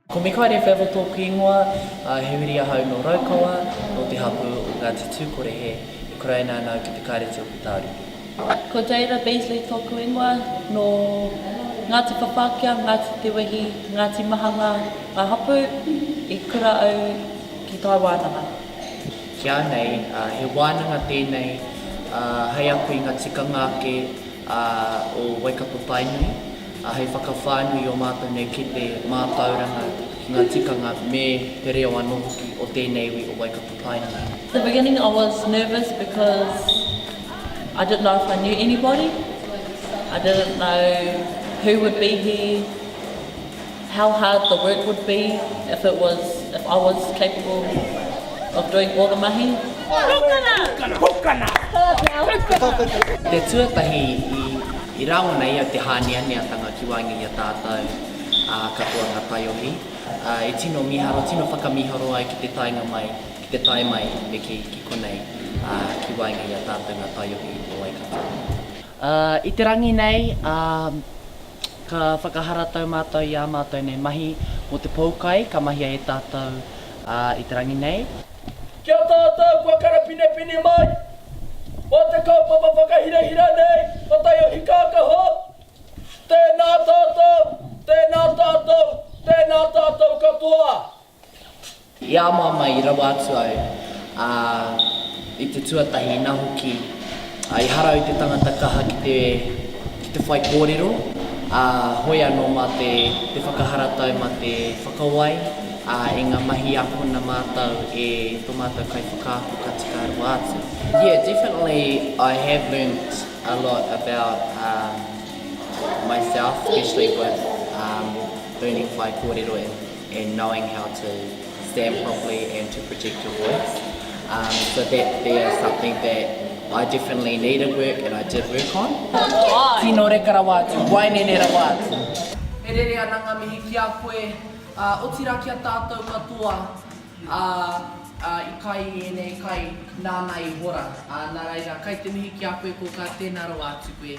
Ko Mikaere Fevel tōku ingoa, he huri ahau nō Raukawa, nō te hapū o Ngāti Tūkorehe, e kuraina ana au ki te Kāreti o Putāruru. Ko Jaira Beasley tōku ingoa, nō Ngāti Papakea, Ngāti Te Wehi, Ngāti Mahanga ngā hapū, i kura au ki Tāwānanga. Ki a nei, he wānanga tēnei hei ako i ngā tikanga ake o Waikato Tainui, hei whakawhānui i ō mātou nei kete mātauranga ki ngā tikanga me te reo anō hoki o tēnei iwi o Waikato Tainui. The beginning I was nervous because I didn't know if I knew anybody, I didn't know who would be here, How hard the work would be if it was, if I was capable of doing all the mahi. Pukana! Pukana! Pukana! Pukana! Te tuatahi i, i rangona ia te hāneaneatanga ki waenga i a tātou, ā, katoa ngā taiohi, ā, e tino miharo, tino whakamiharo ai ki te taenga mai, ki te tae mai me kī, ki konei, ā, ki waenga i a tātou ngā taiohi o Waikato. Ā, i te rangi nei, ā, ka whakaharatau mātou i ā mātou nei mahi mō te poukai ka mahia e tātou, ā, i te rangi nei. Ki a tātou kua karapinepine mai mō te kaupapa whakahirahira nei o Taiohi Kākaho, tēnā tātou, tēnā tātou, tēnā tātou katoa. I a māmā i rawa atu au, ā, i te tuatahi inā hoki, ā, i harau te tangata kaha ki te, ki te whai kōrero, ā, hoi anō mā te, te whakaharatau mā te whakawai, ā, i ngā mahi akona mātau e tō mātau kaiwhakaako ka tika rawa atu. Yeah, definitely I have learnt a lot about myself, especially with learning whai kōrero and and knowing how to stand properly and to protect your voice. Um, so that there is something that I definitely needed work and I did work on. Tino reka rawa atu, waenene rawa atu. E rere ana nga mihi ki a koe, a, otira ki a tatou katoa, a, a, i kai i enei kai, nana i hora. A, na reira, kai te mihi ki a koe koka, tena rawa atu koe.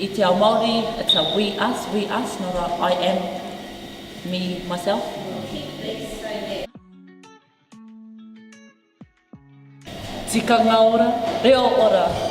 I te ao Māori, it's a we us, we us, not a I am, me, myself. Tikanga ora, reo ora.